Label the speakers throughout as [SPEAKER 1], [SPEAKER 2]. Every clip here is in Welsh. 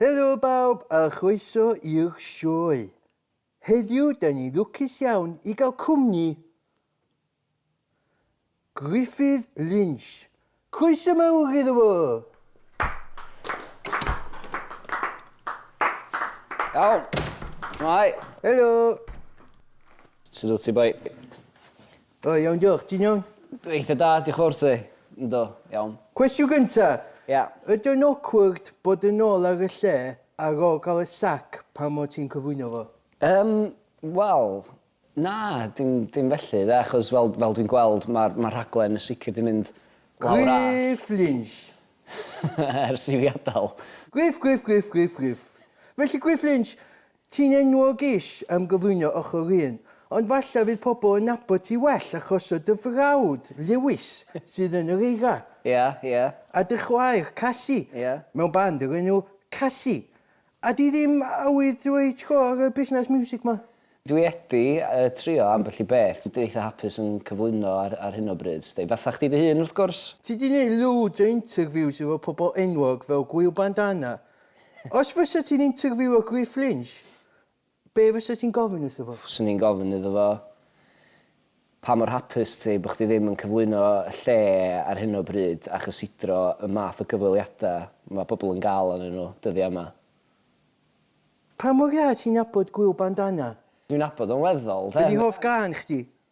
[SPEAKER 1] Helo bawb a chroeso i'r sioe. Heddiw da ni'n lwcus iawn i gael cwmni Gruffydd Lynch. Croeso mawr iddo fo!
[SPEAKER 2] Iawn. Shwmae? Helo! Sut wyt ti boi?
[SPEAKER 1] O iawn diolch, ti'n iawn? Dwi eitha da, diolch
[SPEAKER 2] fawr ti. Yndw, iawn. Cwestiwn gynta'.
[SPEAKER 1] Ia. Ydi o'n
[SPEAKER 2] awkward
[SPEAKER 1] bod yn ôl ar y lle ar ôl cael y sac pan o' ti'n cyflwyno fo? Yym,
[SPEAKER 2] wel, na, dim dim felly 'de, achos fel fel dwi'n gweld ma'r ma'r rhaglen yn sicr 'di mynd lawr a... Griff
[SPEAKER 1] Lynch!
[SPEAKER 2] Ers i fi adael. Griff, Griff, Griff,
[SPEAKER 1] Griff, Griff. Felly Griff Lynch, Ti'n enwog ish am gyflwyno ochr un, ond falla fydd pobl yn nabod ti well achos o dy frawd, Lewis, sydd yn yr eira. Ia, ia.
[SPEAKER 2] A dy chwaer,
[SPEAKER 1] Cassie. Ia. Mewn band o'r enw Cassie. A di ddim awydd dweud go ar y busnes miwsig 'ma? Dwi wedi
[SPEAKER 2] trio ambell i beth. Dwi eitha hapus yn cyflwyno ar hyn o bryd, 'sdi. Fatha chdi dy hun, wrth gwrs. Ti 'di neud loads
[SPEAKER 1] o interviews efo pobl enwog fel Gwyl Bandana, Os fysa ti'n interviewio Griff Lynch, be fysa ti'n gofyn wrtho fo? Fyswn i'n gofyn iddo fo,
[SPEAKER 2] pa mor hapus ti bod chdi ddim yn cyflwyno y lle ar hyn o bryd a chysidro y math o gyfweliadau mae pobl yn gael arnyn nhw dyddiau yma?
[SPEAKER 1] Pa mor dda ti'n nabod Gwyl Bandana? Dwi'n nabod o'n
[SPEAKER 2] weddol, de. Be 'di hoff gân chdi?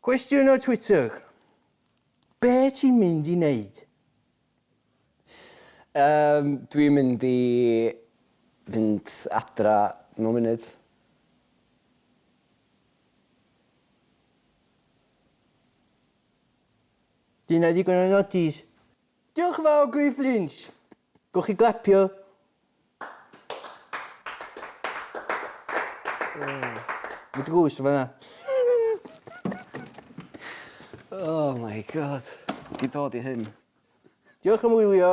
[SPEAKER 1] Cwestiwn o Twitter, Be ti'n mynd i neud? Yym,
[SPEAKER 2] dwi'n mynd i fynd adra mewn munud.
[SPEAKER 1] Dyna ddigon o nodis. Diolch yn fawr Griff Lynch! Gewch chi glapio. Mae dy gŵs yn fanna.
[SPEAKER 2] Oh
[SPEAKER 1] my
[SPEAKER 2] God. Ti
[SPEAKER 1] dod i hyn.
[SPEAKER 2] Diolch am
[SPEAKER 1] wylio.